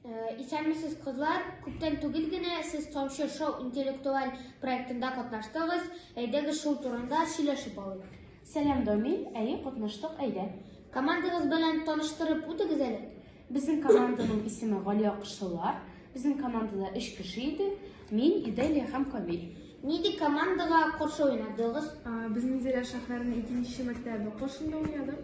Э, Исәнмесез, кызлар! Күптән түгел генә сез Тамчы шоу интеллектуаль проектында катнаштыгыз. Әйдәгез шул турында сөйләшеп алыйк. Сәлам, Доми. Әйе, катнаштык, әйдә. Командагыз белән таныштырып үтегез әле. Безнең команданың исеме Галия Кышлылар. Безнең командада өч кеше иде. Мин, Иделия һәм Камил. Нинди командага каршы уйнадыгыз? Ә, Безнең Зилә Шәһәренең икенче мәктәбе Кошында уйнадык.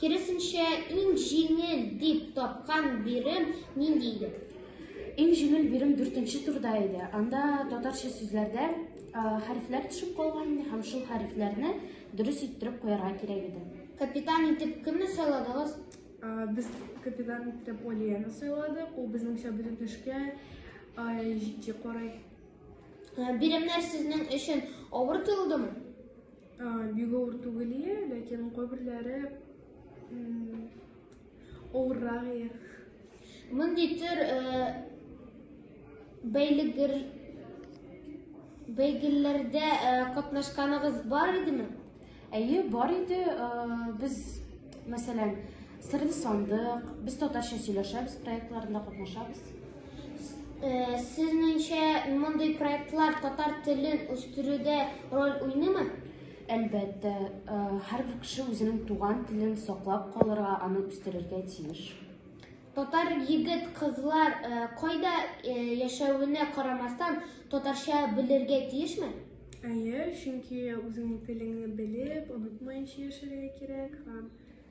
Киресенчә, иң җиңел дип тапкан бирем нинди иде? Иң җиңел бирем дүртенче турда иде. Анда татарча сүзләрдә хәрефләр төшеп калган иде һәм шул хәрефләрне дөрес иттереп куярга кирәк иде. Капитан итеп кемне сайладыгыз? Без капитан итеп Олияны сайладык. Ул безнеңчә бөтен эшкә җитди карый. Биремнәр сезнең өчен авыр тоелдымы? Бик авыр түгел, ләкин кайберләре авыррак. Мондый төр бәйлегер бәйгеләрдә катнашканыгыз бар идеме? Әйе, бар иде. Без, мәсәлән, Сырын сандык, без татарча сөйләшәбез, проектларында катнашабыз. Э, Сезнеңчә мондый проектлар татар телен үстерүдә роль уйныймы? Әлбәттә, э, һәрбер кеше үзенең туган телен саклап калырга, аны үстерергә тиеш. Татар егет кызлар э, кайда э, яшәвенә карамастан татарча белергә тиешме? Әйе, чөнки үзеңнең телеңне белеп, онытмаенча яшәргә кирәк һәм